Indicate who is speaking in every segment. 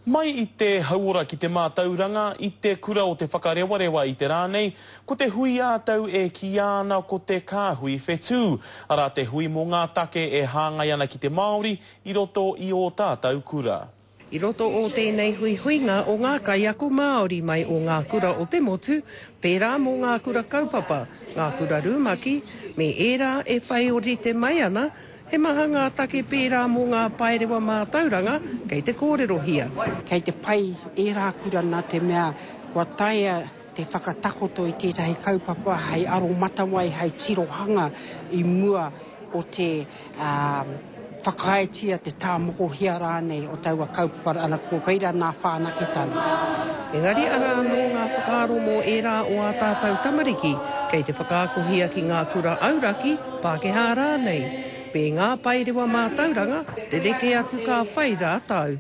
Speaker 1: Mai i te hauora ki te mātauranga, i te kura o Te Whakarewarewa i te rā nei, ko te hui ā-tau e kīia ana ko te Kāhui Whetū, arā te hui mō ngā take e hāngai ana ki te Māori i roto i ō tātau kura. I roto o
Speaker 2: tēnei huihuinga o ngā kaiako Māori mai o ngā kura o te motu, pērā mō ngā kura kaupapa, ngā kura rumaki, me ērā e whai o rite mai ana, He maha ngā take pērā mō ngā paerewa mātauranga kei te kōrerohia. Kei te pai
Speaker 3: ērā kura nā te mea kua taea te whakatakoto i tētahi kaupapa hei aromatawai, hei tirohanga i mua o te whakaaetia, te tāmokohia rānei o taua kaupapa ana ko reira nā whanaketanga. Engari
Speaker 2: arā anō ngā whakaaro mō ērā o ā tātou tamariki kei te whakaakohia ki ngā kura auraki, Pākehā rānei, me ngā paerewa mātauranga, rerekē atu ka whai rātou.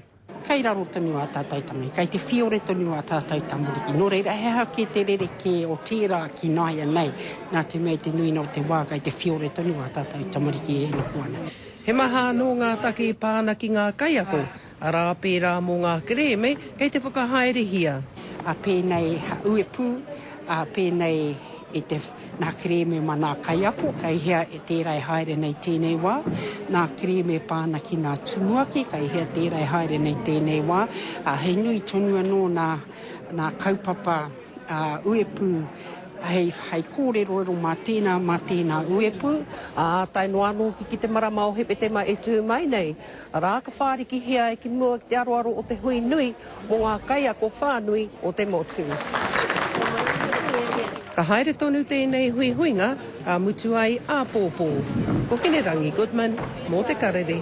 Speaker 2: Kei raro tonu
Speaker 3: ā tātou tangi, kei te whiore tonu ā tātou tamariki, nō reira he aha kē te rerekē o tērā ki nāianei, nā te mea i te nuinga o te wā kei te whiore tonu ā tātou tamariki e noho ana. He maha anō
Speaker 2: ngā take e pā ana ki ngā kaiako, Arā, pērā mō ngā kerēme kei te whakahaerehia. A pēnei
Speaker 3: a Uepū, a pēnei i te, nā kerēme ma nā kaiako, kei hea e tērā e haere nei tēnei wā, nā kerēme e pā ana ki nā tumuaki, kei hea tērā e haere nei tēnei wā, ā, he nui tonu anō nā, nā kaupapa a Uepū hei, hei kōreroero mā tēnā, mā tēnā Uepū. Ā tae noa
Speaker 2: anō ki, ki te marama o Hepetema e tū mai nei, Arā, ka whārikihia e ki mua ki te aroaro o te hui nui mō ngā kaiako whānui o te motu. Ka haere tonu tēnei huihuinga, ka mutu ai āpōpō. Ko Hinerangi Goodman, mō Te Karere.